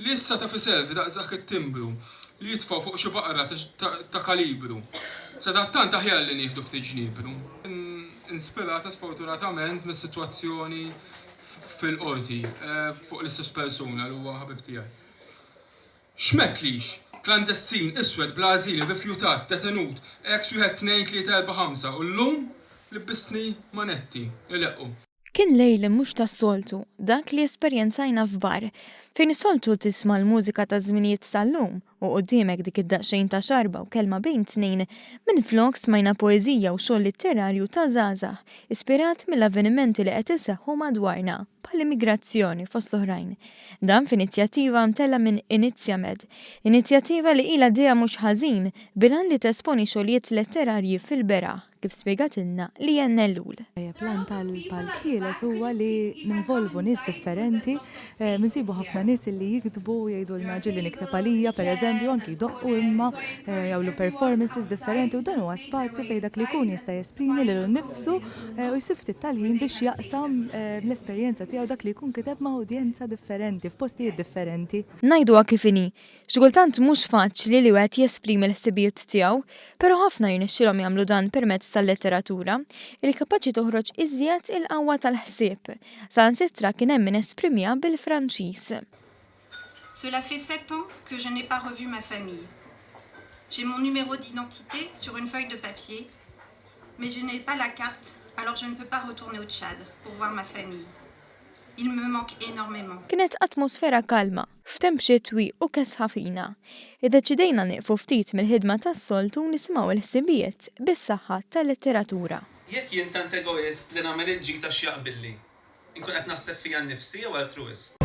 Li issa ta' fi self daqsdak it-timbru li jitfgħu fuq xi baqra ta' kalibru. Sadattant aħjar li nieħdu ftit ġniepru. Inspirata sfortunatament mis-sitwazzjoni fil-Qorti fuq l-istess persuna li huwa ħabib tiegħi. X'mettlix! Klandestin, iswed, bla għażil, irrifjutat, detenut, eks wieħed tnejn tlieta erbgħa ħamsa, u llum libbistni manetti. Ileqqu. Kien lejl mhux tas-soltu dak li esperjenzajna f'bar, fejn is-soltu tisma' l-mużika taż-żminijiet tal-lum u quddiemek dik id-daqsxejn ta' xarba u kelma bejn tnejn, minflok smajna poeżija u xogħol litterarju ta' żgħażagħ ispirat mill-avvenimenti li qed iseħħu madwarna, bħall-immigrazzjoni fost l-oħrajn. Dan f'inizjattiva mtellgħa minn Inizjamed, inizjattiva li ilha għaddejja mhux ħażin bil-għan li tesponi xogħlijiet letterarji fil-beraħ, kif spjegatilna Lianne Ellul. L-għan tal-Palk Ħieles huwa li ninvolvu nies differenti, insibu ħafna nies li jiktbu u jgħidulna ġieli nikteb għalija, pereżempju, anki jdoqqu imma, jagħmlu performances differenti u dan huwa spazju fejn dak li jkun jista' jesprimi lilu nnifsu u jsib ftit tal-ħin biex jaqsam l-esperjenza tiegħu dak li jkun kiteb ma' udjenza differenti f'postijiet differenti. Ngħiduha kif inhi, xi kultant mhux faċli li wieħed jesprimi l-ħsibijiet tiegħu, però ħafna jirnexxilhom jagħmlu dan permezz tal-letteratura, li kapaċi toħroġ iżjed il-qawwa tal-ħsieb. Saħansitra kien hemm min esprimiha bil-Franċiż. Cela fait sept ans que je n'ai pas revu ma famille. J'ai mon numéro d'identité sur une feuille de papier, mais je n'ai pas la carte alors je ne peux pas retourner au Tchad pour voir ma famille. Ils me manquent énormément. Kienet atmosfera kalma, f'temp xitwi u kesħa fina. Iddeċidejna nieqfu ftit mill-ħidma tas-soltu u nisimgħu l-ħsibijiet bis-saħħa tal-letteratura. Jekk jien tant egoist li nagħmel il-ġid għax jaqbilli, Inkun qed naħseb fija nnifsi jew altruwist?